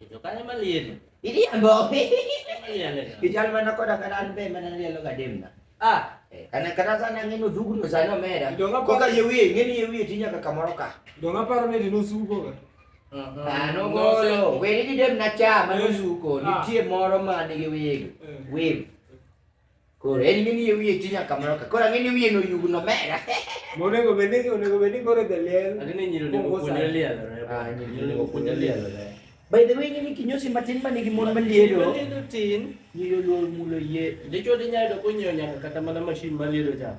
Ito kaya malin. Hindi yan, Bo. Kijal man ako na kanan pe, mananalo ka dim na. Ah, eh, kana kana sana ngino dugu no sana mera. Donga ko ka yewi, ngini yewi tinya ka kamoroka. Donga paro ne dinu sugo ka. Ano golo, weri di dem na cha manu sugo, ni tie moro ma ni yewi. Wave. Koro en mini yo wiye ti nyaka mano ka. Koro ang'e ni wiye no yugno mera. Monego bed ni onego bed ni koro jaliel. Ang'e ni nyiri onego puonjre lielo. Ah, nyiri onego puonjre lielo. By the way, ni kinyosi matin ma nigi mon malielo. Malielo tin. Nyiri oluor mulo yie. Dichwo di nyalo ko nyiewo nyaka kata mana mashin malielo cha.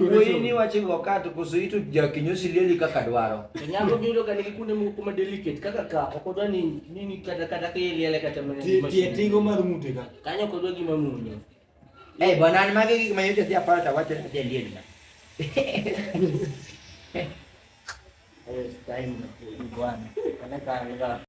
wuoyini wacho go ka to koso ito jakinyosi lieli kaka dwaro nyako biyudo ka nigi kuonde moko kuma delicate kaka ka ok odwa ni nini kata kata ka iliele kata tigo mar mute ka kanyo kodwa gima munyo eh bwana an mage gik mayot adhi aparo to awacho ni alieli na eh time bwana kana ka